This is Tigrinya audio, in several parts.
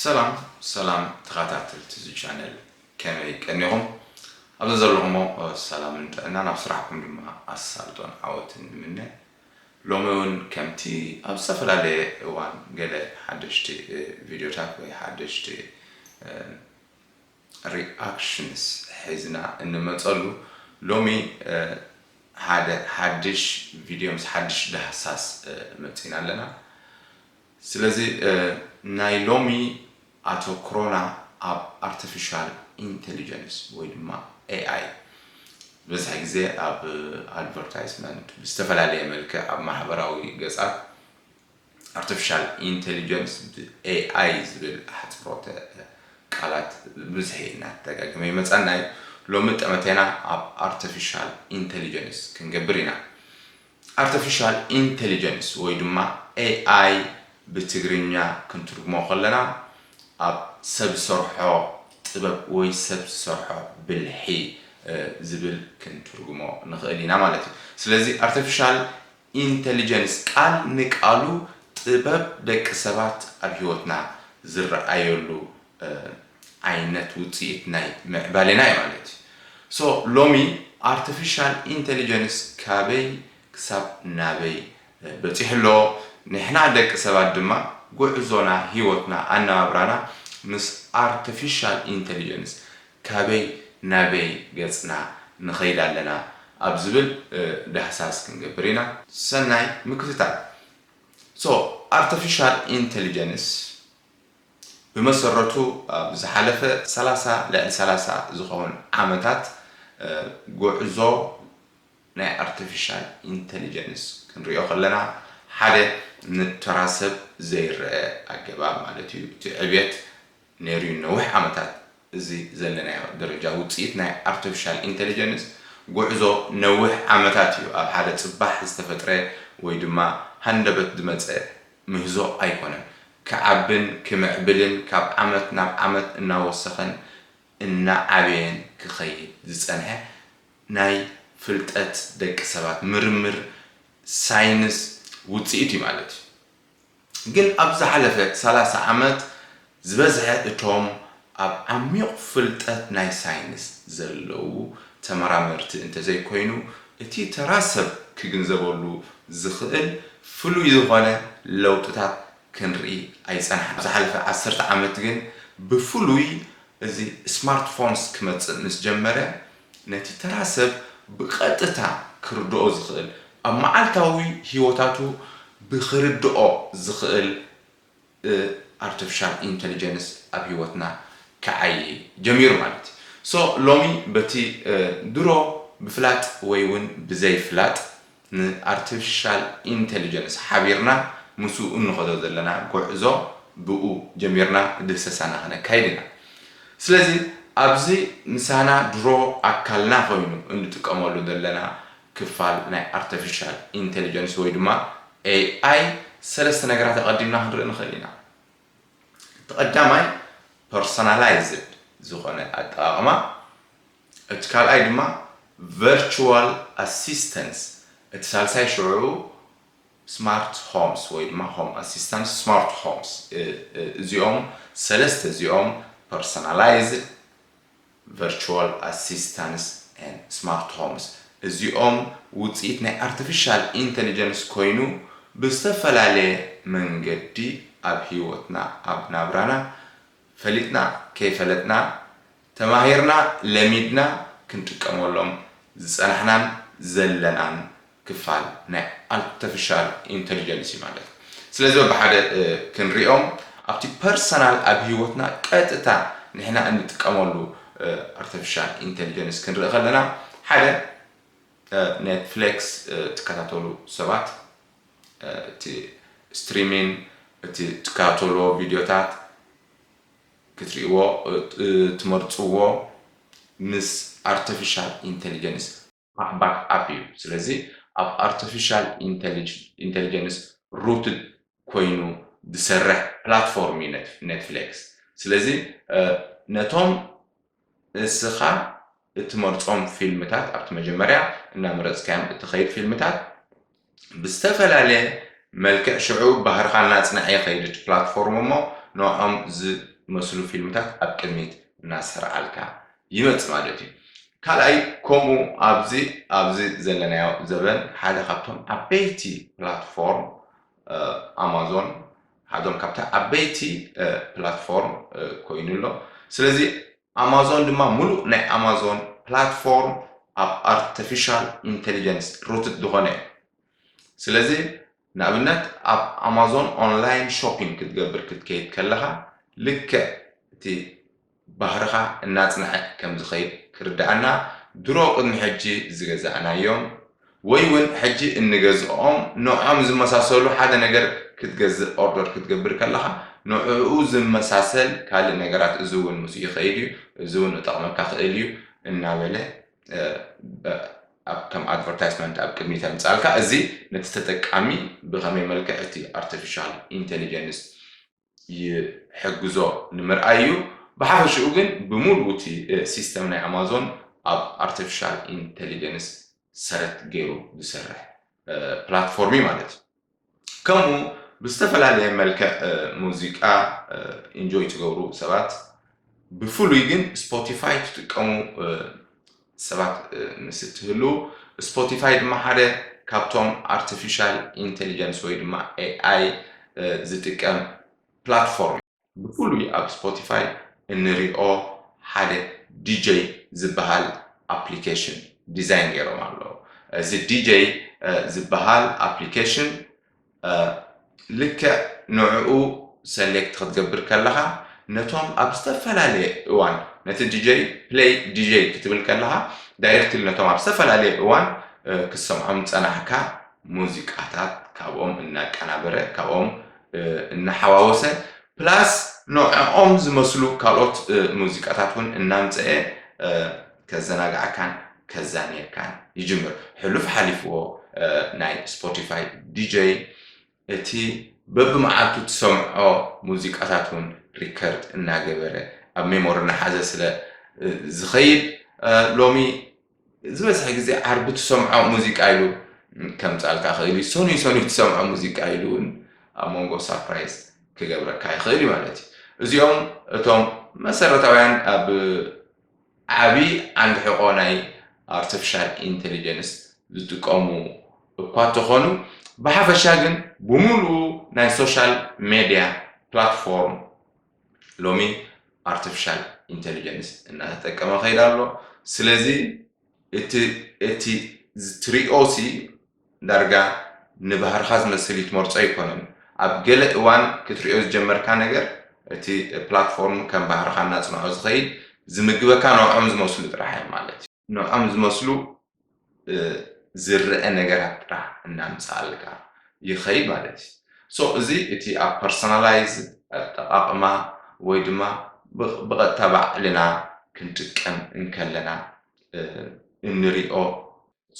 ሰላም ሰላም ተኻታተልቲ እዚ ቻነል ከመይ ቀኒኹም ኣብ ዘዘለኹሞ ሰላምን ጥዕናን ኣብ ስራሕኩም ድማ ኣሳልጦን ዓወትን ንምነ ሎሚ ውን ከምቲ ኣብ ዝተፈላለየ እዋን ገለ ሓደሽቲ ቪድዮታት ወይ ሓደሽቲ ሪኣክሽንስ ሒዝና እንመጸሉ ሎሚ ሓደ ሓድሽ ቪድዮ ምስ ሓድሽ ዳህሳስ መጺና ኣለና ስለዚ ናይ ሎሚ ኣተኩሮና ኣብ ኣርተፊሻል ኢንተሊጀንስ ወይ ድማ AI ዝበዝሐ ግዜ ኣብ ኣድቨርታይዝመንት ብዝተፈላለየ መልክዕ ኣብ ማሕበራዊ ገጻት ኣርተፊሻል ኢንተሊጀንስ ብ AI ዝብል ኣሕጽሮተ ቃላት ብብዝሒ እናተደጋገመ ይመጻና እዩ። ሎሚ ጠመተና ኣብ ኣርተፊሻል ኢንተሊጀንስ ክንገብር ኢና። ኣርተፊሻል ኢንተሊጀንስ ወይ ድማ AI ብትግርኛ ክንትርጉሞ ከለና ኣብ ሰብ ዝሰርሖ ጥበብ ወይ ሰብ ዝሰርሖ ብልሒ ዝብል ክንትርጉሞ ንኽእል ኢና ማለት እዩ። ስለዚ ኣርተፊሻል ኢንተሊጀንስ ቃል ንቃሉ ጥበብ ደቂ ሰባት ኣብ ህይወትና ዝረኣየሉ ዓይነት ውፅኢት ናይ ምዕባሌና እዩ ማለት እዩ። So ሎሚ ኣርተፊሻል ኢንተሊጀንስ ካበይ ክሳብ ናበይ በፂሑ ኣሎ? ንሕና ደቂ ሰባት ድማ ጉዕዞና፣ ህይወትና፣ ኣነባብራና ምስ ኣርተፊሻል ኢንተሊጀንስ ካበይ ናበይ ገፅና ንኸይድ ኣለና ኣብ ዝብል ዳህሳስ ክንገብር ኢና። ሰናይ ምክትታል። So ኣርተፊሻል ኢንተሊጀንስ ብመሰረቱ ኣብ ዝሓለፈ ሰላሳ ልዕሊ ሰላሳ ዝኸውን ዓመታት ጉዕዞ ናይ ኣርተፊሻል ኢንተሊጀንስ ክንሪኦ ከለና ሓደ ንተራ ሰብ ዘይረኣ ኣገባብ ማለት እዩ እቲ ዕብየት ነይሩ እዩ ንነዊሕ ዓመታት እዚ ዘለናዮ ደረጃ ውጽኢት ናይ ኣርተፊሻል ኢንተለጀንስ ጉዕዞ ነውሕ ዓመታት እዩ፣ ኣብ ሓደ ጽባሕ ዝተፈጥረ ወይ ድማ ሃንደበት ዝመጸ ምህዞ ኣይኮነን። ክዓብን ክምዕብልን ካብ ዓመት ናብ ዓመት እናወሰኸን እናዓበየን ክኸይድ ዝጸንሐ ናይ ፍልጠት ደቂ ሰባት ምርምር ሳይንስ ውጽኢት እዩ ማለት እዩ። ግን ኣብ ዝሓለፈ ሰላሳ ዓመት ዝበዝሐ እቶም ኣብ ዓሚቝ ፍልጠት ናይ ሳይንስ ዘለዉ ተመራመርቲ እንተዘይኮይኑ እቲ ተራ ሰብ ክግንዘበሉ ዝኽእል ፍሉይ ዝኾነ ለውጥታት ክንርኢ ኣይጸናሕናን። ዝሓለፈ ዓሰርተ ዓመት ግን ብፍሉይ እዚ ስማርትፎንስ ክመጽእ ምስ ጀመረ ነቲ ተራ ሰብ ብቐጥታ ክርድኦ ዝኽእል፣ ኣብ መዓልታዊ ህይወታቱ ብክርድኦ ዝኽእል እ ኣርተፍሻል ኢንተልጀንስ ኣብ ህይወትና ክዓዪ ጀሚሩ ማለት እዩ። ሶ ሎሚ በቲ ድሮ ብፍላጥ ወይ ውን ብዘይ ፍላጥ ንኣርተፊሻል ኢንተሊጀንስ ሓቢርና ምስኡ እንኸዶ ዘለና ጎዕዞ ብኡ ጀሚርና ድህሰሳና ከነካይድ ኢና። ስለዚ ኣብዚ ምሳና ድሮ ኣካልና ኮይኑ እንጥቀመሉ ዘለና ክፋል ናይ ኣርተፊሻል ኢንተሊጀንስ ወይ ድማ AI ሰለስተ ነገራት ኣቐዲምና ክንርኢ ንኽእል ኢና። እቲ ቀዳማይ ፐርሶናላይዝድ ዝኾነ ኣጠቓቕማ እቲ ካልኣይ ድማ ቨርቹዋል ኣሲስተንስ፣ እቲ ሳልሳይ ሽዑ ስማርት ሆምስ ወይ ድማ ሆም ኣሲስታንስ ስማርት ሆምስ፣ እዚኦም ሰለስተ እዚኦም ፐርሰናላይዝድ፣ ቨርቹዋል ኣሲስታንስ ን ስማርት ሆምስ እዚኦም ውፅኢት ናይ ኣርቲፊሻል ኢንተሊጀንስ ኮይኑ ብዝተፈላለየ መንገዲ ኣብ ህይወትና ኣብ ናብራና ፈሊጥና ከይፈለጥና ተማሂርና ለሚድና ክንጥቀመሎም ዝጸናሕናን ዘለናን ክፋል ናይ ኣርተፍሻል ኢንተሊጀንስ እዩ ማለት እዩ። ስለዚ በብሓደ ክንሪኦም ኣብቲ ፐርሰናል ኣብ ሂወትና ቀጥታ ንሕና እንጥቀመሉ ኣርተፍሻል ኢንተሊጀንስ ክንርኢ ከለና ሓደ ኔትፍሌክስ ትከታተሉ ሰባት እቲ ስትሪሚን እቲ ትካተሎ ቪድዮታት ክትሪእዎ ትመርጽዎ ምስ ኣርተፊሻል ኢንተሊጀንስ እዩ። ባሕባሕ ኣፍ እዩ ስለዚ ኣብ ኣርተፊሻል ኢንተሊጀንስ ሩትድ ኮይኑ ዝሰርሕ ፕላትፎርም እዩ ነትፍሌክስ ስለዚ ነቶም እስኻ እትመርጾም ፊልምታት ኣብቲ መጀመርያ እናመረጽካዮም እትኸይድ ፊልምታት ብዝተፈላለየ መልክዕ ሽዑ ባህርኻ እናጽንዐ ይኸይድ እቲ ፕላትፎርም እሞ ንዖም ዝመስሉ ፊልምታት ኣብ ቅድሚት እናሰርዓልካ ይመጽእ ማለት እዩ። ካልኣይ ከምኡ ኣብዚ ኣብዚ ዘለናዮ ዘበን ሓደ ካብቶም ዓበይቲ ፕላትፎርም ኣማዞን ሓዶም ካብቲ ዓበይቲ ፕላትፎርም ኮይኑ ኣሎ ስለዚ ኣማዞን ድማ ሙሉእ ናይ ኣማዞን ፕላትፎርም ኣብ ኣርተፊሻል ኢንተሊጀንስ ሩትድ ዝኾነ እዩ ስለዚ ንኣብነት ኣብ ኣማዞን ኦንላይን ሾፒንግ ክትገብር ክትከይድ ከለኻ ልክዕ እቲ ባህርኻ እናጽንዐ ከም ዝኸይድ ክርድኣና ድሮ ቅድሚ ሕጂ ዝገዛእናዮም ወይ ውን ሕጂ እንገዝኦም ንዖም ዝመሳሰሉ ሓደ ነገር ክትገዝእ ኦርደር ክትገብር ከለኻ ንዕኡ ዝመሳሰል ካልእ ነገራት እዚ ውን ምስኡ ይኸይድ እዩ እዚ ውን እጠቕመካ ክእል እዩ እናበለ ከም ኣድቨርታይስመንት ኣብ ቅድሚት የምጽኣልካ እዚ ነቲ ተጠቃሚ ብኸመይ መልክዕ እቲ ኣርቲፊሻል ኢንተሊጀንስ ይሕግዞ ንምርኣይ እዩ። ብሓፈሽኡ ግን ብምሉኡ እቲ ሲስተም ናይ ኣማዞን ኣብ ኣርተፊሻል ኢንተሊጀንስ ሰረት ገይሩ ዝሰርሕ ፕላትፎርም እዩ ማለት እዩ። ከምኡ ብዝተፈላለየ መልክዕ ሙዚቃ ኢንጆይ ትገብሩ ሰባት ብፍሉይ ግን ስፖቲፋይ ትጥቀሙ ሰባት ምስ እትህሉ፣ ስፖቲፋይ ድማ ሓደ ካብቶም ኣርቲፊሻል ኢንተሊጀንስ ወይ ድማ ኤኣይ ዝጥቀም ፕላትፎርም እዩ። ብፍሉይ ኣብ ስፖቲፋይ እንሪኦ ሓደ ዲጀይ ዝበሃል ኣፕሊኬሽን ዲዛይን ገይሮም ኣለዉ። እዚ ዲጀይ ዝበሃል ኣፕሊኬሽን ልክዕ ንዕኡ ሰሌክት ክትገብር ከለኻ ነቶም ኣብ ዝተፈላለየ እዋን ነቲ ዲጀይ ፕሌይ ዲጀይ ክትብል ከለኻ ዳይሬክትሊ ነቶም ኣብ ዝተፈላለየ እዋን ክትሰምዖም ዝጸናሕካ ሙዚቃታት ካብኦም እናቀናበረ ካብኦም እናሓዋወሰ ፕላስ ንዕኦም ዝመስሉ ካልኦት ሙዚቃታት እውን እናምፀኤ ከዘናግዓካን ከዛንየካን ይጅምር። ሕሉፍ ሓሊፍዎ ናይ ስፖቲፋይ ዲጀይ እቲ በብመዓልቱ ትሰምዖ ሙዚቃታት እውን ሪከርድ እናገበረ ኣብ ሜሞሪ እናሓዘ ስለ ዝኸይድ ሎሚ ዝበዝሐ ግዜ ዓርቢ ትሰምዖ ሙዚቃ ኢሉ ከምጻልካ ይኽእል እዩ። ሰኑይ ሰኑይ ትሰምዖ ሙዚቃ ኢሉ እውን ኣብ መንጎ ሳፕራይዝ ክገብረካ ይኽእል እዩ ማለት እዩ። እዚኦም እቶም መሰረታውያን ኣብ ዓቢ ዓንዲ ሕቖ ናይ ኣርተፊሻል ኢንተሊጀንስ ዝጥቀሙ እኳ እተኾኑ፣ ብሓፈሻ ግን ብምሉኡ ናይ ሶሻል ሜድያ ፕላትፎርም ሎሚ ኣርተፊሻል ኢንተሊጀንስ እናተጠቀመ ከይዱ ኣሎ። ስለዚ እቲ እቲ ትሪኦሲ ዳርጋ ንባህርኻ ዝመስል ይትመርጾ ኣይኮነን። ኣብ ገለ እዋን ክትርእዮ ዝጀመርካ ነገር እቲ ፕላትፎርም ከም ባህርኻ እናጽንዖ ዝኸይድ ዝምግበካ ንዖም ዝመስሉ ጥራሕ እዮም ማለት እዩ። ንዖም ዝመስሉ ዝረኣ ነገራት ጥራሕ እናምጽኣልካ ይኸይድ ማለት እዩ። So እዚ እቲ ኣብ ፐርሰናላይዝ ኣጠቓቕማ ወይ ድማ ብቐጥታ ባዕልና ክንጥቀም እንከለና እንሪኦ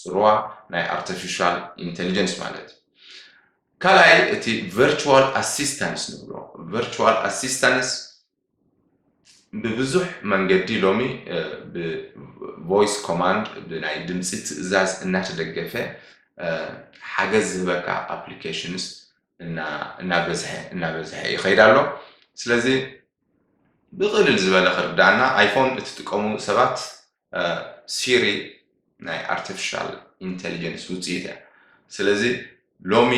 ጽልዋ ናይ ኣርተፊሻል ኢንተሊጀንስ ማለት እዩ። ካልኣይ እቲ ቨርቹዋል ኣሲስታንስ ንብሎ ቨርቹዋል ኣሲስታንስ ብብዙሕ መንገዲ ሎሚ ብቮይስ ኮማንድ ብናይ ድምፂ ትእዛዝ እናተደገፈ ሓገዝ ዝህበካ ኣፕሊኬሽንስ እናበዝሐ እናበዝሐ ይኸይድ ኣሎ ስለዚ ብቕልል ዝበለ ክርዳእና ኣይፎን እትጥቀሙ ሰባት ሲሪ ናይ ኣርቲፊሻል ኢንተሊጀንስ ውፅኢት እያ ስለዚ ሎሚ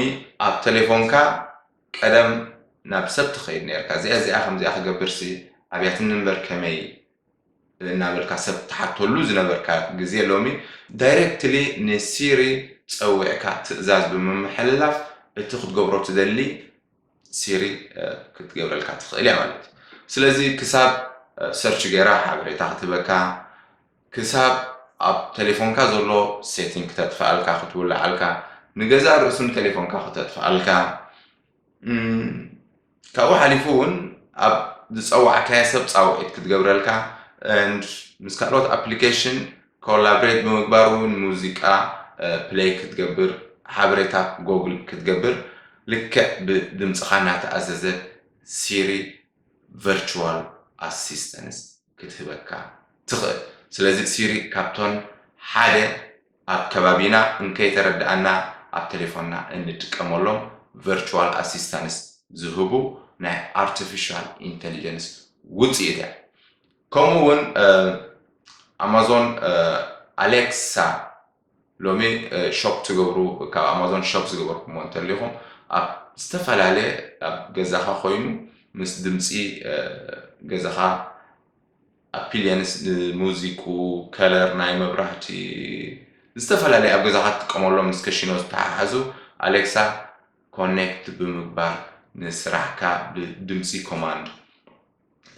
ኣብ ቴሌፎንካ ቀደም ናብ ሰብ ትኸይድ ነርካ እዚኣ እዚኣ ከምዚኣ ክገብርሲ ኣብያትኒ እምበር ከመይ እናበልካ ሰብ ትሓተሉ ዝነበርካ ግዜ ሎሚ ዳይሬክትሊ ንሲሪ ፀዊዕካ ትእዛዝ ብምምሕልላፍ እቲ ክትገብሮ ትደሊ ሲሪ ክትገብረልካ ትኽእል እያ ማለት እዩ ስለዚ ክሳብ ሰርች ገይራ ሓበሬታ ክትህበካ ክሳብ ኣብ ቴሌፎንካ ዘሎ ሴቲንግ ክተጥፍኣልካ ክትውልዓልካ ንገዛ ርእሱን ቴሌፎንካ ክተጥፍኣልካ ካብኡ ሓሊፉ እውን ኣብ ዝፀዋዕካዮ ሰብ ፃውዒት ክትገብረልካ ምስ ካልኦት ኣፕሊኬሽን ኮላብሬት ብምግባር እውን ሙዚቃ ፕለይ ክትገብር ሓበሬታ ጎግል ክትገብር ልክዕ ብድምፅኻ እናተኣዘዘ ሲሪ ቨርችዋል ኣሲስተንስ ክትህበካ ትኽእል። ስለዚ ሲሪ ካብቶን ሓደ ኣብ ከባቢና እንከይተረደኣና ኣብ ተሌፎንና እንጥቀመሎም ቨርችዋል ኣሲስተንስ ዝህቡ ናይ ኣርተፊሻል ኢንተሊጀንስ ውፅኢት እያ። ከምኡ ውን ኣማዞን ኣሌክሳ ሎሚ ሾፕ ትገብሩ ካብ ኣማዞን ሾፕ ዝገበርኩምዎ እንተሊኹም ኣብ ዝተፈላለየ ኣብ ገዛኻ ኮይኑ ምስ ድምፂ ገዛኻ ኣፒሊየንስ ንሙዚቁ ከለር ናይ መብራህቲ ዝተፈላለየ ኣብ ገዛኻ ትጥቀመሎም ምስ ከሽኖ ዝተሓሓዙ ኣሌክሳ ኮኔክት ብምግባር ንስራሕካ ብድምፂ ኮማንድ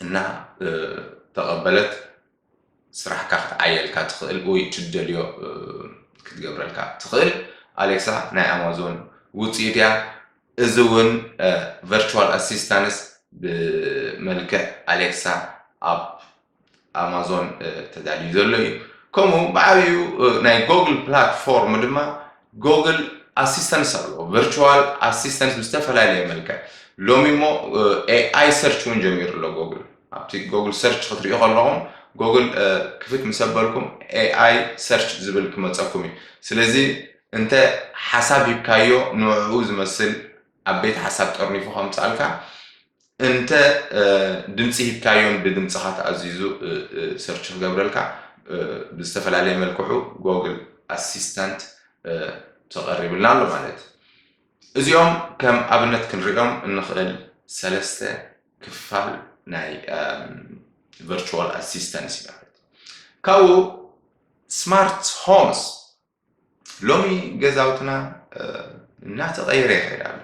እና ተቐበለት ስራሕካ ክትዓየልካ ትኽእል ወይ ትደልዮ ክትገብረልካ ትኽእል ኣሌክሳ ናይ ኣማዞን ውፅኢት እያ እዚ እውን ቨርቹዋል ኣሲስታንስ ብመልክዕ ኣሌክሳ ኣብ ኣማዞን ተዳልዩ ዘሎ እዩ። ከምኡ ብዓብዩ ናይ ጎግል ፕላትፎርም ድማ ጎግል ኣሲስተንስ ኣለዎ፣ ቨርቹዋል ኣሲስተንስ ብዝተፈላለየ መልክዕ ሎሚ እሞ ኤኣይ ሰርች እውን ጀሚሩ ኣሎ ጎግል። ኣብቲ ጎግል ሰርች ክትሪኡ ከለኹም ጎግል ክፍት ምስ ኣበልኩም ኤኣይ ሰርች ዝብል ክመፀኩም እዩ። ስለዚ እንተ ሓሳብ ሂብካዮ ንዕኡ ዝመስል ዓበይቲ ሓሳብ ጠርኒፉ ከምጽኣልካ እንተ ድምጺ ሂብካዮን ብድምጽኻ ተኣዚዙ ሰርች ክገብረልካ ብዝተፈላለየ መልክዑ ጎግል ኣሲስታንት ተቐሪብልና ኣሎ ማለት እዚኦም ከም ኣብነት ክንሪኦም እንኽእል ሰለስተ ክፋል ናይ ቨርቹዋል ኣሲስታንስ ማለት ካብኡ ስማርት ሆምስ ሎሚ ገዛውትና እናተቐየረ ይኸይድ ኣሎ።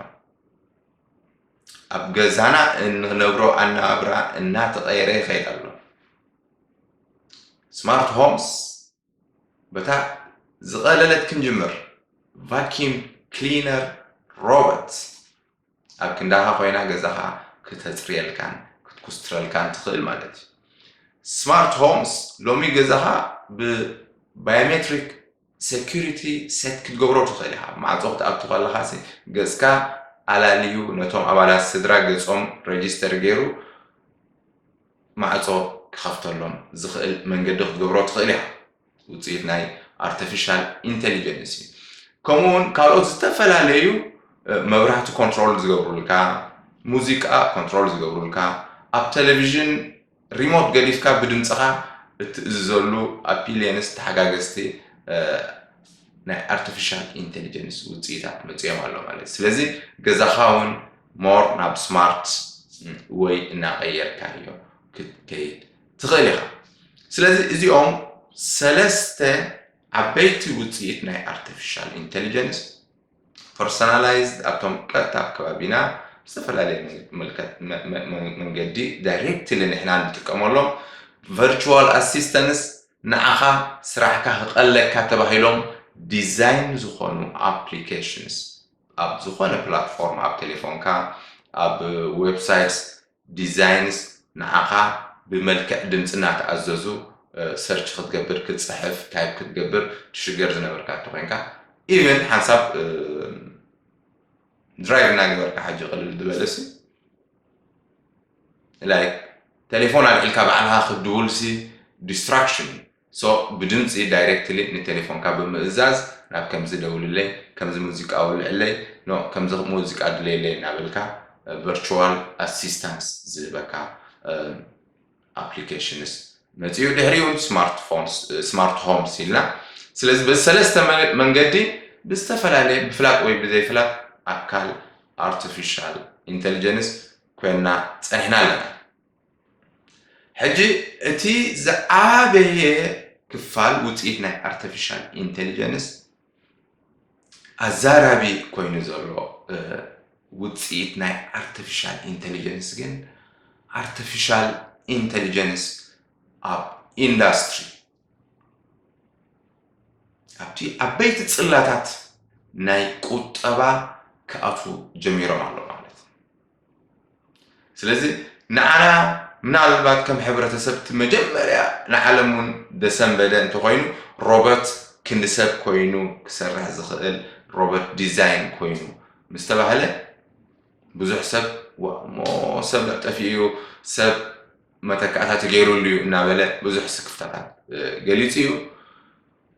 ኣብ ገዛና እንነብሮ ኣነባብራ እናተቐየረ ይኸይድ ኣሎ። ስማርት ሆምስ በታ ዝቐለለት ክንጅምር ቫኪም ክሊነር ሮበት ኣብ ክንዳኻ ኮይና ገዛኻ ክተጽርየልካን ክትኩስትረልካን ትኽእል ማለት እዩ። ስማርት ሆምስ ሎሚ ገዛኻ ብ ባዮሜትሪክ ሴኩሪቲ ሴት ክትገብሮ ትኽእል ኢኻ። ማዕጾ ክትኣቱ ከለኻሲ ገጽካ ኣላልዩ ነቶም ኣባላት ስድራ ገጾም ረጂስተር ገይሩ ማዕጾ ክኸፍተሎም ዝኽእል መንገዲ ክትገብሮ ትኽእል ኢኻ። ውፅኢት ናይ ኣርተፊሻል ኢንተሊጀንስ እዩ። ከምኡ እውን ካልኦት ዝተፈላለዩ መብራህቲ ኮንትሮል ዝገብሩልካ፣ ሙዚቃ ኮንትሮል ዝገብሩልካ፣ ኣብ ቴሌቪዥን ሪሞት ገዲፍካ ብድምፅኻ እትእዝዘሉ ኣፒሊየንስ ተሓጋገዝቲ ናይ ኣርቲፊሻል ኢንቴሊጀንስ ውፅኢታት መፅኦም ኣሎ ማለት ስለዚ ገዛኻ እውን ሞር ናብ ስማርት ወይ እናቀየርካ እዮ ክትከይድ ትኽእል ኢኻ። ስለዚ እዚኦም ሰለስተ ዓበይቲ ውፅኢት ናይ ኣርቲፊሻል ኢንተሊጀንስ ፐርሶናላይዝድ ኣብቶም ቀጥታ ኣብ ከባቢና ዝተፈላለየ መንገዲ ዳይሬክትሊ ንሕና ንጥቀመሎም ቨርቹዋል ኣሲስተንስ ንዓኻ ስራሕካ ክቐለካ ተባሂሎም ዲዛይን ዝኾኑ ኣፕሊኬሽንስ ኣብ ዝኾነ ፕላትፎርም ኣብ ቴሌፎንካ ኣብ ዌብሳይትስ ዲዛይንስ ንዓኻ ብመልክዕ ድምጺ እናተኣዘዙ ሰርች ክትገብር ክትጽሕፍ ታይፕ ክትገብር ትሽገር ዝነበርካ እንተኾይንካ ኢቨን ሓንሳብ ድራይቭ እናገበርካ ሓጂ ቅልል ዝበለሲ ላይክ ቴሌፎን ኣልዒልካ ባዕልኻ ክትድውልሲ ዲስትራክሽን እዩ So ብድምጺ ዳይረክትሊ ንቴሌፎንካ ብምእዛዝ ናብ ከምዚ ደውልለይ፣ ከምዚ ሙዚቃ ወልዕለይ፣ no ከምዚ ሙዚቃ ድለየለይ እናበልካ ቨርቹዋል ኣሲስታንስ ዝህበካ ኣፕሊኬሽንስ መጺኡ። ድሕሪኡ ውን ስማርት ፎንስ፣ ስማርት ሆምስ ኢልና ስለዚ በዚ ሰለስተ መንገዲ ብዝተፈላለየ ብፍላጥ ወይ ብዘይፍላጥ ኣካል ኣርቲፊሻል ኢንተሊጀንስ ኮይንና ጸኒሕና ኣለና። ሕጂ እቲ ዝዓበየ ክፋል ውፅኢት ናይ ኣርቲፊሻል ኢንቴሊጀንስ ኣዛራቢ ኮይኑ ዘሎ ውፅኢት ናይ ኣርቲፊሻል ኢንቴሊጀንስ ግን ኣርቲፊሻል ኢንቴሊጀንስ ኣብ ኢንዳስትሪ ኣብቲ ዓበይቲ ጽላታት ናይ ቁጠባ ክኣትዉ ጀሚሮም ኣሎ ማለት እዩ ስለዚ ንዓና ምናልባት ከም ሕብረተሰብ እቲ መጀመርያ ንዓለም እውን ዘሰንበደ እንተኮይኑ ሮበርት ክንዲ ሰብ ኮይኑ ክሰርሕ ዝኽእል ሮበርት ዲዛይን ኮይኑ ምስተባህለ ብዙሕ ሰብ እሞ ሰብ ጠፊኡ እዩ ሰብ መተካእታ ተገይሩሉ እዩ እናበለ ብዙሕ ስክፍታታት ገሊፁ እዩ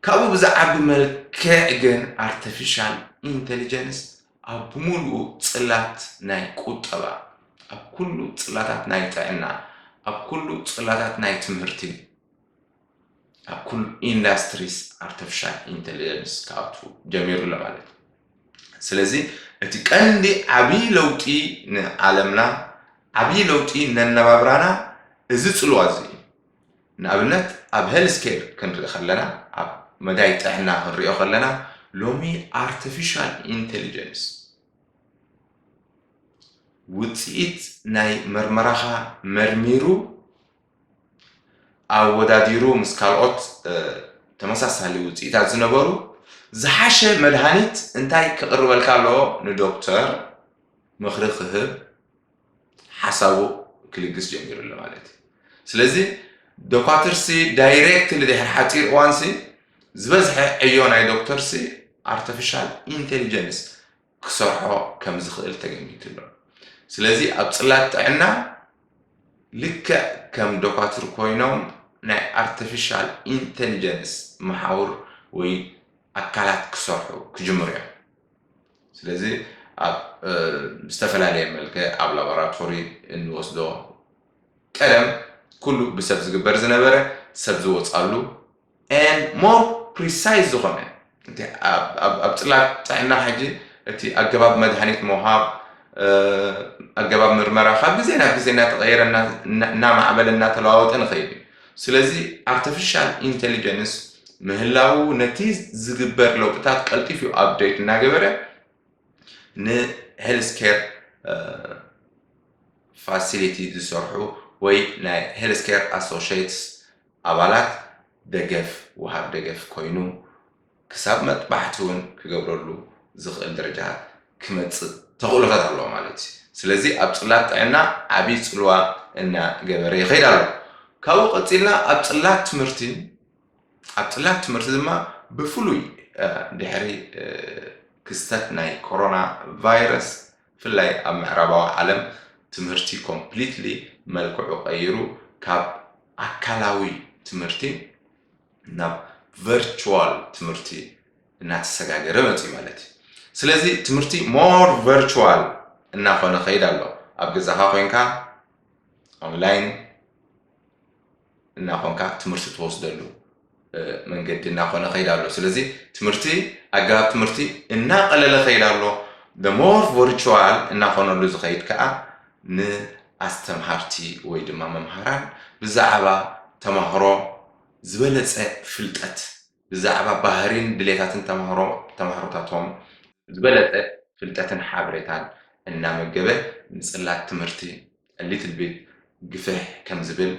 ካብኡ ብዛዓቢ መልክዕ ግን ኣርቲፊሻል ኢንቴሊጀንስ ኣብ ብምሉኡ ጽላት ናይ ቁጠባ፣ ኣብ ኩሉ ጽላታት ናይ ጥዕና፣ ኣብ ኩሉ ጽላታት ናይ ትምህርቲ፣ ኣብ ኩሉ ኢንዳስትሪስ ኣርተፍሻል ኢንተለጀንስ ክኣቱ ጀሚሩ ኣሎ ማለት እዩ። ስለዚ እቲ ቀንዲ ዓብዪ ለውጢ ንዓለምና ዓብዪ ለውጢ ነነባብራና እዚ ጽልዋ እዚ እዩ። ንኣብነት ኣብ ሄል ስኬል ክንርኢ ከለና፣ ኣብ መዳይ ጥዕና ክንሪኦ ከለና፣ ሎሚ ኣርተፊሻል ኢንተሊጀንስ ውጽኢት ናይ መርመራኻ መርሚሩ ኣወዳዲሩ ምስ ካልኦት ተመሳሳሊ ውጽኢታት ዝነበሩ ዝሓሸ መድሃኒት እንታይ ክቕርበልካ ኣለዎ ንዶክተር ምኽሪ ክህብ ሓሳቡ ክልግስ ጀሚሩ ኣሎ ማለት እዩ። ስለዚ ዶኳትርሲ ዳይሬክትሊ ድሕሪ ሓፂር እዋንሲ ዝበዝሐ ዕዮ ናይ ዶክተርሲ ኣርተፊሻል ኢንቴሊጀንስ ክሰርሖ ከም ዝኽእል ተገሚቱ ኣሎ። ስለዚ ኣብ ፅላት ጥዕና ልክዕ ከም ዶኳትር ኮይኖም ናይ ኣርቲፊሻል ኢንቴሊጀንስ መሓውር ወይ ኣካላት ክሰርሑ ክጅምሩ እዮም። ስለዚ ኣብ ዝተፈላለየ መልክዕ ኣብ ላቦራቶሪ እንወስዶ ቀደም ኩሉ ብሰብ ዝግበር ዝነበረ ሰብ ዝወፃሉ and more precise ዝኾነ እቲ ኣብ ፅላት ጥዕና ሕጂ እቲ ኣገባብ መድሃኒት ምውሃብ ኣገባብ ምርመራ ካብ ግዜ ናብ ግዜ እናተቐየረ እናማዕበለ እናተለዋወጠ ንኸይድ እዩ። ስለዚ ኣርተፊሻል ኢንተሊጀንስ ምህላዉ ነቲ ዝግበር ለውጥታት ቀልጢፍ ዩ ኣብደይት እናገበረ ንሄልስ ኬር ፋሲሊቲ ዝሰርሑ ወይ ናይ ሄልስ ኬር ኣሶሽትስ ኣባላት ደገፍ ውሃብ ደገፍ ኮይኑ ክሳብ መጥባሕቲ ውን ክገብረሉ ዝኽእል ደረጃ ክመጽእ ተኽእሎታት ኣለዎ ማለት እዩ። ስለዚ ኣብ ጽላት ጥዕና ዓቢ ጽልዋ እና ገበረ ይኸይድ ኣሎ። ካብኡ ቀጺልና ኣብ ጽላት ትምህርቲ ኣብ ጽላት ትምህርቲ ድማ ብፍሉይ ድሕሪ ክስተት ናይ ኮሮና ቫይረስ ብፍላይ ኣብ ምዕራባዊ ዓለም ትምህርቲ ኮምፕሊትሊ መልክዑ ቀይሩ ካብ ኣካላዊ ትምህርቲ ናብ ቨርቹዋል ትምህርቲ እናተሰጋገረ መፅዩ ማለት እዩ። ስለዚ ትምህርቲ ሞር ቨርቹዋል እናኾነ ከይድ ኣሎ። ኣብ ገዛኻ ኮንካ ኦንላይን እናኾንካ ትምህርቲ ትወስደሉ መንገዲ እናኾነ ከይድ ኣሎ። ስለዚ ትምህርቲ ኣገባብ ትምህርቲ እናቀለለ ከይድ ኣሎ። ሞር ቨርቹዋል እናኾነሉ ዝኸይድ ከዓ ንኣስተምሃርቲ ወይ ድማ መምሃራን ብዛዕባ ተማህሮ ዝበለጸ ፍልጠት ብዛዕባ ባህሪን ድሌታትን ተማሃሮ ተማሃሮታቶም ዝበለጸ ፍልጠትን ሓበሬታን እናመገበ ንጽላት ትምህርቲ ሊትል ቢት ግፍሕ ከም ዝብል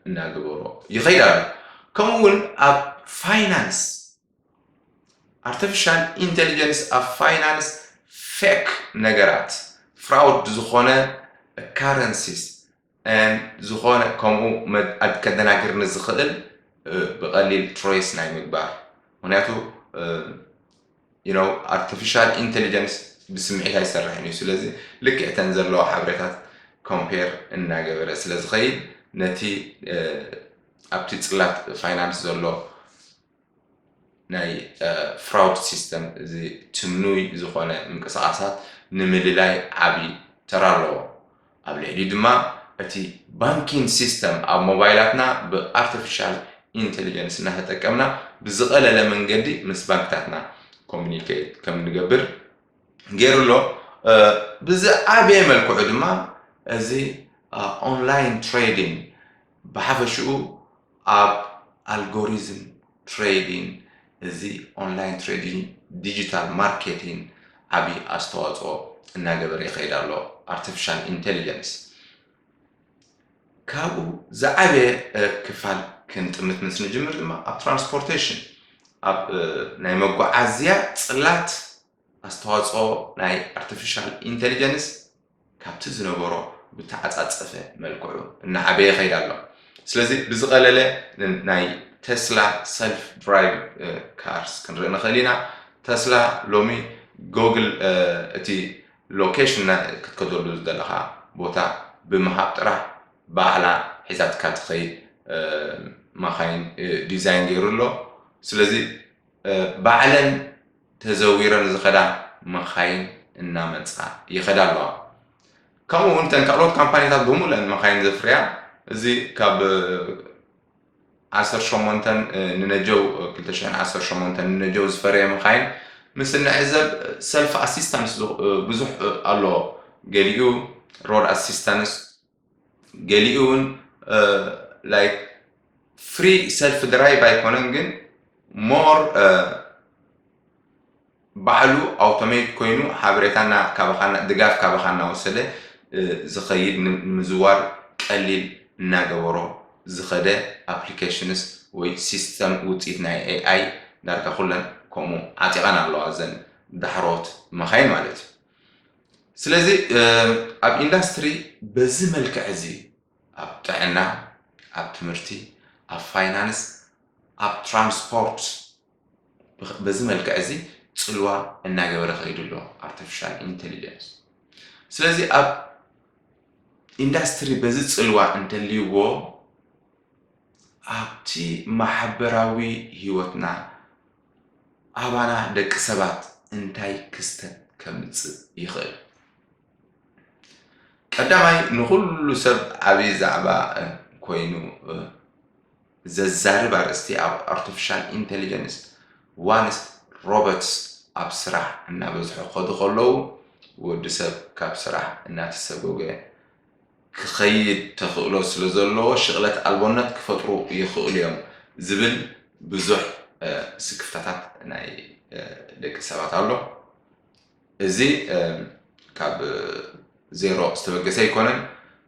እናገበሮ ይኸይድ ኣሎ። ከምኡ እውን ኣብ ፋይናንስ ኣርተፊሻል ኢንተሊጀንስ ኣብ ፋይናንስ ፌክ ነገራት ፍራውድ ዝኾነ ካረንሲስ and ዝኾነ ከምኡ መድ- ከደናግር ንዝኽእል እ፣ ብቐሊል ትሬስ ናይ ምግባር ምክንያቱ ኣርቲፊሻል ኢንቴሊጀንስ ብስምዒት ኣይሰርሕን እዩ ስለዚ ልክዕ ተን ዘለዋ ሓበሬታት ኮምፔር እናገበረ ስለ ዝኸይድ ነቲ እ፣ ኣብቲ ፅላት ፋይናንስ ዘሎ ናይ ፍራውድ ሲስተም እዚ ትምኑይ ዝኾነ ምንቅስቓሳት ንምልላይ ዓቢ ተራ ኣለዎ። ኣብ ልዕሊኡ ድማ እቲ ባንኪን ሲስተም ኣብ ሞባይላትና ብኣርተፊሻል ኢንተሊጀንስ እናተጠቀምና ብዝቐለለ መንገዲ ምስ ባንክታትና ኮሙኒኬት ከም ንገብር ገይሩ ኣሎ። ብዝዓበየ መልክዑ ድማ እዚ ኦንላይን ትሬዲንግ ብሓፈሽኡ ኣብ ኣልጎሪዝም ትሬዲን እዚ ኦንላይን ትሬዲን ዲጂታል ማርኬቲን ዓብዪ ኣስተዋፅኦ እናገበረ ይኸይድ ኣሎ ኣርቲፊሻል ኢንቴሊጀንስ ካብኡ ዝዓበየ ክፋል ክንጥምት ምስ ንጅምር ድማ ኣብ ትራንስፖርቴሽን ኣብ ናይ መጓዓዝያ ፅላት ኣስተዋፅኦ ናይ ኣርቲፊሻል ኢንቴሊጀንስ ካብቲ ዝነበሮ ብተዓጻጸፈ መልክዑ እናዓበየ ይኸይድ ኣሎ። ስለዚ ብዝቐለለ ናይ ተስላ ሰልፍ ድራይቭ ካርስ ክንርኢ ንኽእል ኢና። ተስላ ሎሚ ጎግል እቲ ሎኬሽን ክትከደሉ ዝደለኻ ቦታ ብምሃብ ጥራሕ ባዕላ ሒዛትካ ትኸይድ ማኻይን ዲዛይን ገይሩ ኣሎ። ስለዚ ባዕለን ተዘዊረን ዝኸዳ መኻይን እናመፃ ይኸዳ ኣለዋ። ከምኡ እውን እተን ካልኦት ካምፓኒታት ብሙሉእን መኻይን ዘፍርያ እዚ ካብ ዓሰርተ ሸሞንተ ንነጀው ክልተ ሽሕን ዓሰርተ ሸሞንተ ንነጀው ዝፈረየ መኻይን ምስ እንዕዘብ ሰልፍ ኣሲስታንስ ብዙሕ ኣሎ ገሊኡ ሮድ ኣሲስታንስ ገሊኡ እውን ላይክ ፍሪ ሰልፍ ድራይቭ ኣይኮነን ግን ሞር ባዕሉ ኣውቶሜት ኮይኑ ሓበሬታና ካባኻና ድጋፍ ካባኻ እናወሰደ ዝኸይድ ንምዝዋር ቀሊል እናገበሮ ዝኸደ ኣፕሊኬሽንስ ወይ ሲስተም ውፅኢት ናይ ኤኣይ ዳርጋ ኩለን ከምኡ ዓጢቐን ኣለዋ እዘን ዳሕሮት መኻይን ማለት እዩ ስለዚ ኣብ ኢንዳስትሪ በዚ መልክዕ እዚ ኣብ ጥዕና ኣብ ትምህርቲ ኣብ ፋይናንስ ኣብ ትራንስፖርት በዚ መልክዕ እዚ ፅልዋ እናገበረ ከይዱ ኣሎ ኣርቲፊሻል ኢንቴሊጀንስ ስለዚ ኣብ ኢንዳስትሪ በዚ ፅልዋ እንተልይዎ ኣብቲ ማሕበራዊ ህይወትና ኣባና ደቂ ሰባት እንታይ ክስተት ከምጽእ ይኽእል? ቀዳማይ ንኹሉ ሰብ ዓብዪ ዛዕባ ኮይኑ ዘዛርብ ኣርእስቲ ኣብ ኣርቲፊሻል ኢንቴሊጀንስ ዋንስ ሮበትስ ኣብ ስራሕ እናበዝሑ ከዱ ከለዉ ወዲ ሰብ ካብ ስራሕ እናተሰጎገ ክኸይድ ተኽእሎ ስለዘለዎ ሽቕለት ኣልቦነት ክፈጥሩ ይኽእሉ'ዮም ዝብል ብዙሕ ስክፍታታት ናይ ደቂ ሰባት ኣሎ። እዚ ካብ ዜሮ ዝተበገሰ ኣይኮነን።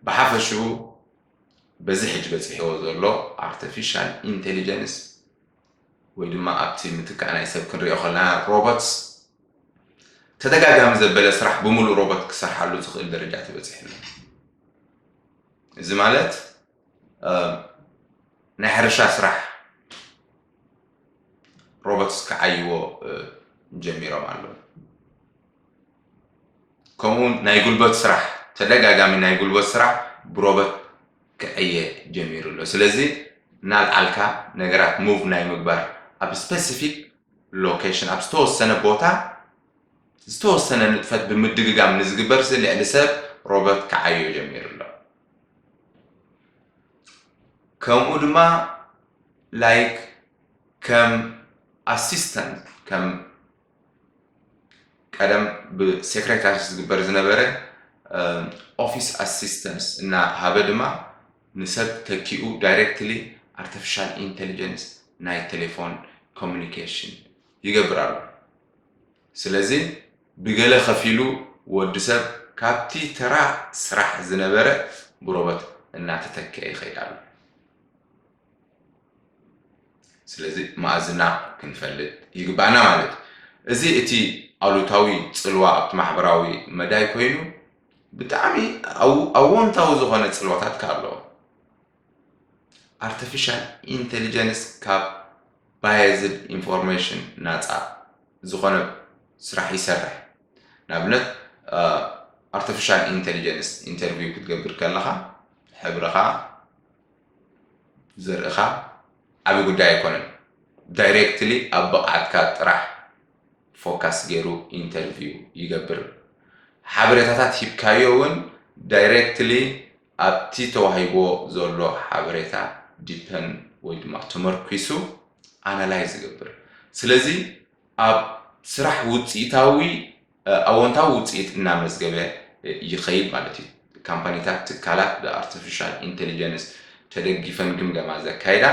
ብሓፈሽኡ በዚ ሕጂ በጺሕዎ ዘሎ ኣርተፊሻል ኢንተሊጀንስ፣ ወይ ድማ ኣብቲ ምትካእ ናይ ሰብ ክንሪኦ ከለና ሮቦትስ ተደጋጋሚ ዘበለ ስራሕ ብምሉእ ሮቦት ክሰርሓሉ ዝኽእል ደረጃ ተበፂሑ ኣሎ እዚ ማለት ናይ ሕርሻ ስራሕ ሮቦትስ ክዓይዎ ጀሚሮም ኣለዉ ከምኡውን ናይ ጉልበት ስራሕ ተደጋጋሚ ናይ ጉልበት ስራሕ ብሮበት ክዕየ ጀሚሩ ኣሎ ስለዚ እናልዓልካ ነገራት ሙቭ ናይ ምግባር ኣብ ስፔሲፊክ ሎኬሽን ኣብ ዝተወሰነ ቦታ ዝተወሰነ ንጥፈት ብምድግጋም ንዝግበር ሲ ልዕሊ ሰብ ሮበት ክዓዮ ጀሚሩ ኣሎ ከምኡ ድማ ላይክ ከም ኣሲስተንት ከም ቀደም ብሴክሬታሪስ ዝግበር ዝነበረ ኦፊስ ኣሲስተንስ እናሃበ ድማ ንሰብ ተኪኡ ዳይሬክትሊ ኣርቲፊሻል ኢንቴሊጀንስ ናይ ቴሌፎን ኮሚኒኬሽን ይገብር ኣሎ ስለዚ ብገለ ከፊሉ ወዲ ሰብ ካብቲ ተራ ስራሕ ዝነበረ ብሮበት እናተተክአ ይኸይድ ኣሎ ስለዚ መኣዝና ክንፈልጥ ይግባእና ማለት እዩ እዚ እቲ ኣሉታዊ ፅልዋ ኣብቲ ማሕበራዊ መዳይ ኮይኑ ብጣዕሚ ኣዎንታዊ ዝኾነ ፅልዋታት ከ ኣለዎ ኣርቲፊሻል ኢንቴሊጀንስ ካብ ባየዝድ ኢንፎርሜሽን ናፃ ዝኾነ ስራሕ ይሰርሕ ንኣብነት ኣርቲፊሻል ኢንቴሊጀንስ ኢንተርቪው ክትገብር ከለኻ ሕብርኻ ዘርእኻ ዓቢ ጉዳይ ኣይኮነን ዳይረክትሊ ኣብ ብቕዓትካ ጥራሕ ፎካስ ጌሩ ኢንተርቪው ይገብር ሓበሬታታት ሂብካዮ ውን ዳይረክትሊ ኣብቲ ተዋሂብዎ ዘሎ ሓበሬታ ዲፐን ወይ ድማ ተመርኲሱ ኣናላይዝ ይገብር ስለዚ ኣብ ስራሕ ውጽኢታዊ ኣወንታዊ ውፅኢት እናመዝገበ ይኸይድ ማለት እዩ። ካምፓኒታት፣ ትካላት ብኣርተፊሻል ኢንተሊጀንስ ተደጊፈን ግምገማ ዘካይዳ፣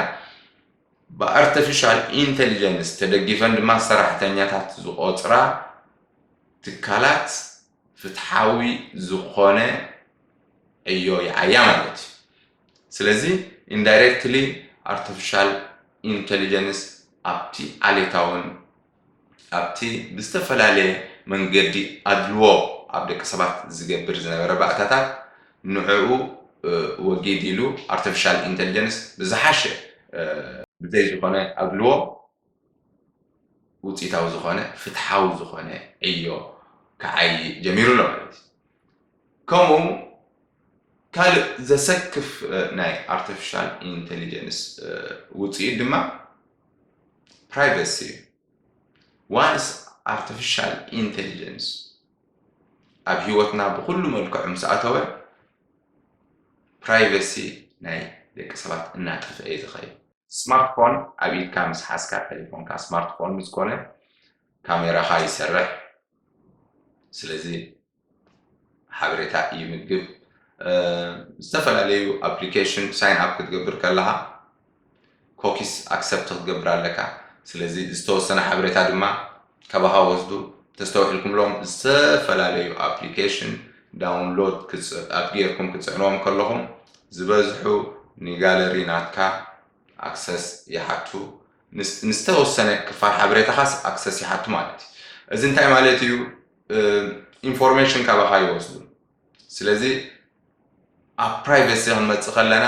ብኣርተፊሻል ኢንተሊጀንስ ተደጊፈን ድማ ሰራሕተኛታት ዝቖፅራ ትካላት ፍትሓዊ ዝኾነ ዕዮ ይዓያ ማለት እዩ። ስለዚ ኢንዳይሬክትሊ ኣርተፊሻል ኢንተሊጀንስ ኣብቲ ዓሌታውን ኣብቲ ብዝተፈላለየ መንገዲ ኣድልዎ ኣብ ደቂ ሰባት ዝገብር ዝነበረ ባእታታት ንዕኡ ወጊድ ኢሉ ኣርተፊሻል ኢንተልጀንስ ብዝሓሸ ብዘይ ዝኾነ ኣድልዎ ውፅኢታዊ ዝኾነ ፍትሓዊ ዝኾነ ዕዮ ክዓዪ ጀሚሩ ኣሎ ማለት እዩ። ከምኡ ካልእ ዘሰክፍ ናይ ኣርተፊሻል ኢንተልጀንስ ውፅኢት ድማ ፕራይቨሲ እዩ። ዋንስ ኣርተፊሻል ኢንተሊጀንስ ኣብ ሂወትና ብኹሉ መልክዑ ምስ ኣተወ ፕራይቨሲ ናይ ደቂ ሰባት እናጠፍአ እዩ ዝኸይድ። ስማርት ፎን ኣብ ኢድካ ምስ ሓዝካ ቴሌፎንካ ስማርት ፎን ምስ ኮነ ካሜራኻ ይሰርሕ። ስለዚ ሓበሬታ ይምግብ። ዝተፈላለዩ ኣፕሊኬሽን ሳይን ኣፕ ክትገብር ከለኻ ኮኪስ ኣክሰፕት ክትገብር ኣለካ። ስለዚ ዝተወሰነ ሓበሬታ ድማ ካባኻ ወስዱ ተስተውዒልኩምሎም ዝተፈላለዩ ኣፕሊኬሽን ዳውንሎድ ኣብ ጌርኩም ክፅዕንዎም ከለኹም ዝበዝሑ ንጋለሪ ናትካ ኣክሰስ ይሓቱ ንዝተወሰነ ክፋል ሓበሬታኻስ ኣክሰስ ይሓቱ ማለት እዩ። እዚ እንታይ ማለት እዩ? ኢንፎርሜሽን ካባኻ ይወስዱ ስለዚ ኣብ ፕራይቬሲ ክንመፅእ ከለና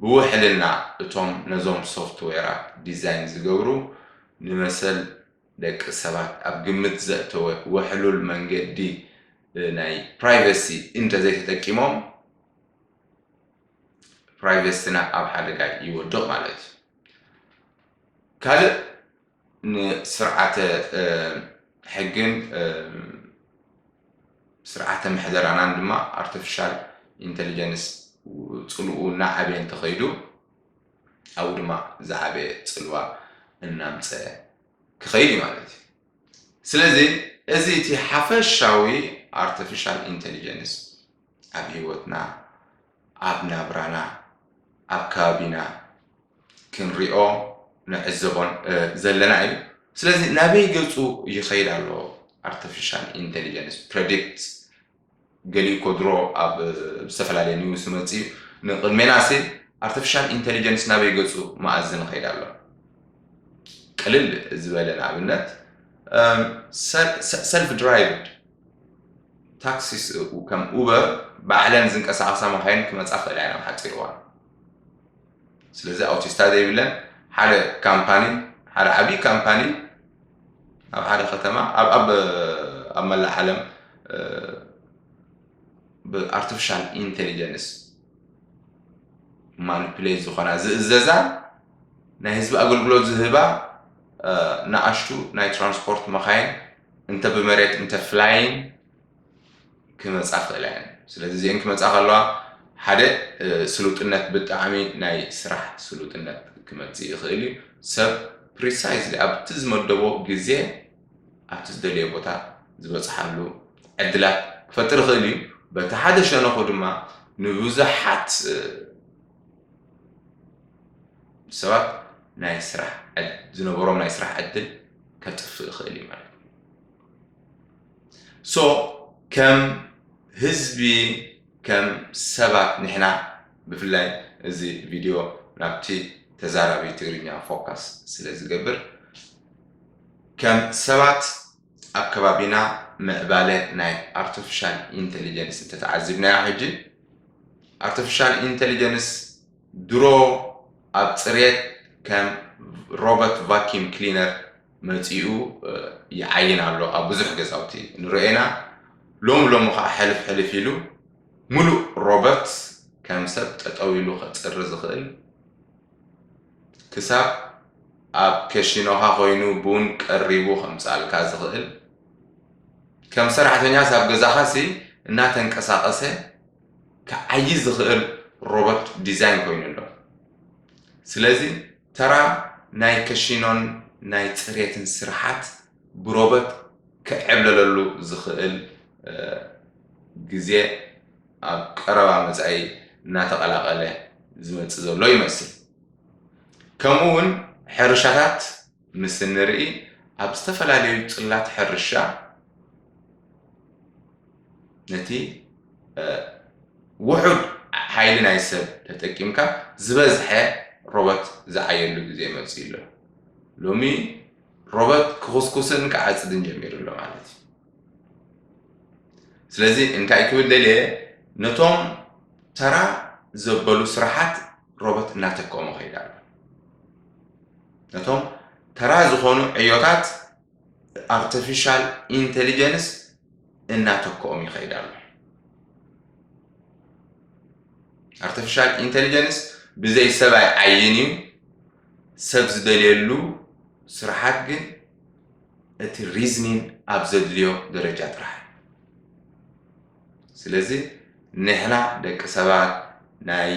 ብውሕልና እቶም ነዞም ሶፍትዌራት ዲዛይን ዝገብሩ ንመሰል ደቂ ሰባት ኣብ ግምት ዘእተወ ውሕሉል መንገዲ ናይ ፕራይቬሲ እንተዘይተጠቂሞም ፕራይቬሲና ኣብ ሓደጋ ይወድቕ ማለት እዩ ካልእ ንስርዓተ ሕግን ስርዓተ ምሕደራናን ድማ ኣርቲፊሻል ኢንተሊጀንስ ፅልኡ እናዓበየ እንተኸይዱ ኣብኡ ድማ ዝዓበየ ፅልዋ እናምፀ ክኸይድ እዩ ማለት እዩ ስለዚ እዚ እቲ ሓፈሻዊ ኣርቲፊሻል ኢንተሊጀንስ ኣብ ሂወትና ኣብ ናብራና ኣብ ከባቢና ክንሪኦ ንዕዘቦን ዘለና እዩ። ስለዚ ናበይ ገጹ ይኸይድ ኣሎ ኣርቲፊሻል ኢንቴሊጀንስ ፕረዲክት ገሊኡ እኮ ድሮ ኣብ ዝተፈላለየ ኒውስ መጽ እዩ ንቅድሜና ሲ ኣርቲፊሻል ኢንቴሊጀንስ ናበይ ገጹ መኣዝ ንኸይድ ኣሎ ቅልል ዝበለ ንኣብነት ሰልፍ ድራይቭድ ታክሲስ እው ከም ኡበር ባዕለን ዝንቀሳቐሳ መካይን ክመፃ ክእላ ኢና ኣብ ሓፂር እዋን ስለዚ ኣውቲስታ ዘይብለን ሓደ ካምፓኒ ሓደ ዓብዪ ካምፓኒ ኣብ ሓደ ከተማ ኣብ ኣብ ኣብ መላእ ዓለም ብኣርቲፊሻል ኢንቴሊጀንስ ማኒፕሌት ዝኾና ዝእዘዛ ናይ ህዝቢ ኣገልግሎት ዝህባ ንኣሽቱ ናይ ትራንስፖርት መኻይን እንተ ብመሬት እንተ ፍላይን ክመጻ ክእላ እየን ስለዚ እዚኤን ክመጻ ከለዋ ሓደ ስሉጥነት ብጣዕሚ ናይ ስራሕ ስሉጥነት ክመጽእ ይኽእል እዩ ሰብ ፕሪሳይዝሊ ኣብቲ ዝመደቦ ግዜ ኣብቲ ዝደለየ ቦታ ዝበፅሓሉ ዕድላት ክፈጥር ይኽእል እዩ በቲ ሓደ ሸነኹ ድማ ንብዙሓት ሰባት ናይ ስራሕ ዝነበሮም ናይ ስራሕ ዕድል ከጥፍእ ይኽእል እዩ ማለት እዩ ሶ ከም ህዝቢ ከም ሰባት ንሕና ብፍላይ እዚ ቪድዮ ናብቲ ተዛራቢ ትግርኛ ፎካስ ስለ ዝገብር ከም ሰባት ኣብ ከባቢና ምዕባለ ናይ ኣርቲፊሻል ኢንቴሊጀንስ እንተተዓዚብናዮ ሕጂ ኣርቲፊሻል ኢንቴሊጀንስ ድሮ ኣብ ጽሬት ከም ሮበት ቫኪም ክሊነር መጺኡ ይዓይን ኣሎ ኣብ ብዙሕ ገዛውቲ ንርኦ ኢና ሎሚ ሎሚ ከኣ ሕልፍ ሕልፍ ኢሉ ምሉእ ሮበት ከም ሰብ ጠጠው ኢሉ ከጽሪ ዝኽእል ክሳብ ኣብ ከሺኖኻ ኮይኑ ቡን ቀሪቡ ከምጽኣልካ ዝኽእል ከም ሰራሕተኛስ ኣብ ገዛኻሲ እናተንቀሳቐሰ ክዓዪ ዝኽእል ሮቦት ዲዛይን ኮይኑ ኣሎ። ስለዚ ተራ ናይ ከሺኖን ናይ ጽሬትን ስርሓት ብሮቦት ክዕብለለሉ ዝኽእል ግዜ ኣብ ቀረባ መጻኢ እናተቐላቐለ ዝመጽእ ዘሎ ይመስል። ከምኡ'ውን ሕርሻታት ምስ እንርኢ ኣብ ዝተፈላለዩ ጽላት ሕርሻ፣ ነቲ ውሑድ ሓይሊ ናይ ሰብ ተጠቂምካ ዝበዝሐ ሮበት ዝዓየሉ ግዜ መፅኡ ኣሎ ሎሚ ሮበት ክኹስኩስን ክዓፅድን ጀሚሩ ኣሎ ማለት እዩ ስለዚ እንታይ ክብል ደልየ ነቶም ተራ ዘበሉ ስራሓት ሮበት እናተከሙ ከይዳ ኣሎ ነቶም ተራ ዝኾኑ ዕዮታት ኣርተፊሻል ኢንተሊጀንስ እናተክኦም ይኸይድ ኣሎ ኣርተፊሻል ኢንተሊጀንስ ብዘይ ሰብ ኣይዓይን እዩ ሰብ ዝደልየሉ ስራሓት ግን እቲ ሪዝኒን ኣብ ዘድልዮ ደረጃ ጥራሕ ስለዚ ንሕና ደቂ ሰባት ናይ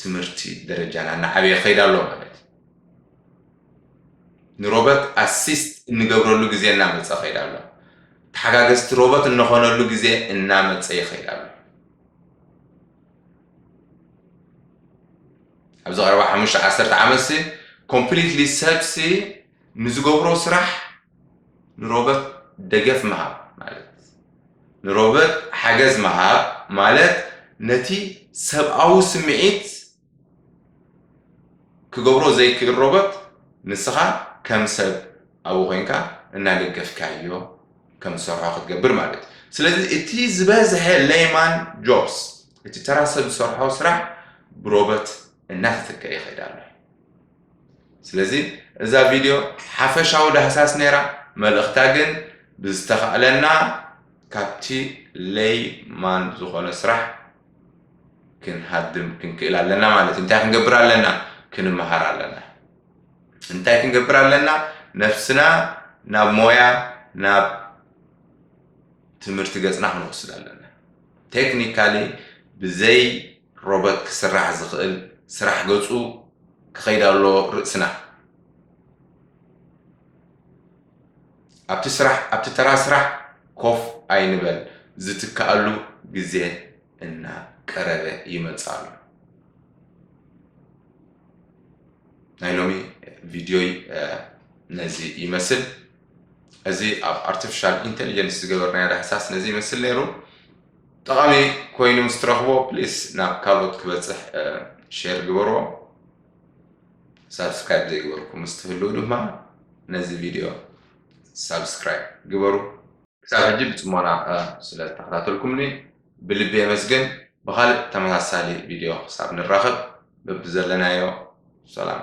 ትምህርቲ ደረጃና እናዓበየ ከይድ ኣሎ ማለት ንሮበት ኣሲስት እንገብረሉ ግዜ እናመፀ ኸይድ ኣሎ። ተሓጋገዝቲ ሮበት እንኾነሉ ግዜ እናመፀ ይኸይድ ኣሎ። ኣብዚ ቀረባ ሓሙሽተ ዓሰርተ ዓመትሲ ኮምፕሊትሊ ሰብሲ ንዝገብሮ ስራሕ ንሮበት ደገፍ ምሃብ ማለት ንሮበት ሓገዝ ምሃብ ማለት ነቲ ሰብኣዊ ስምዒት ክገብሮ ዘይክእል ሮቦት ንስኻ ከም ሰብ ኣብኡ ኮይንካ እናደገፍካዮ ከም ዝሰርሖ ክትገብር ማለት እዩ ስለዚ እቲ ዝበዝሐ ሌይማን ጆብስ እቲ ተራ ሰብ ዝሰርሖ ስራሕ ብሮቦት እናተተክአ ይኸይድ ኣሎ ስለዚ እዛ ቪድዮ ሓፈሻዊ ዳህሳስ ነይራ መልእኽታ ግን ብዝተኻእለና ካብቲ ሌይማን ዝኾነ ስራሕ ክንሃድም ክንክእል ኣለና ማለት እዩ እንታይ ክንገብር ኣለና ክንምሃር ኣለና እንታይ ክንገብር ኣለና ነፍስና ናብ ሞያ ናብ ትምህርቲ ገፅና ክንወስድ ኣለና ቴክኒካሊ ብዘይ ሮበት ክስራሕ ዝኽእል ስራሕ ገፁ ክኸይድ ኣለዎ ርእስና ኣብቲ ስራሕ ኣብቲ ተራ ስራሕ ኮፍ ኣይንበል ዝትከኣሉ ግዜ እና ቀረበ ይመጽእ ኣሎ። ናይ ሎሚ ቪድዮይ ነዚ ይመስል። እዚ ኣብ ኣርቲፊሻል ኢንቴሊጀንስ ዝገበርናዮ ዳህሳስ ነዚ ይመስል ነይሩ። ጠቓሚ ኮይኑ ምስ ትረኽቦ ፕሊስ ናብ ካልኦት ክበፅሕ ሼር ግበርዎ። ሳብስክራይብ ዘይገበርኩም ምስ ትህልው ድማ ነዚ ቪድዮ ሳብስክራይብ ግበሩ። ክሳብ ሕጂ ብጽሞና ስለ ተኸታተልኩምኒ ብልቢ የመስግን። ብኻልእ ተመሳሳሊ ቪድዮ ክሳብ ንራኸብ በብዘለናዮ ሰላም።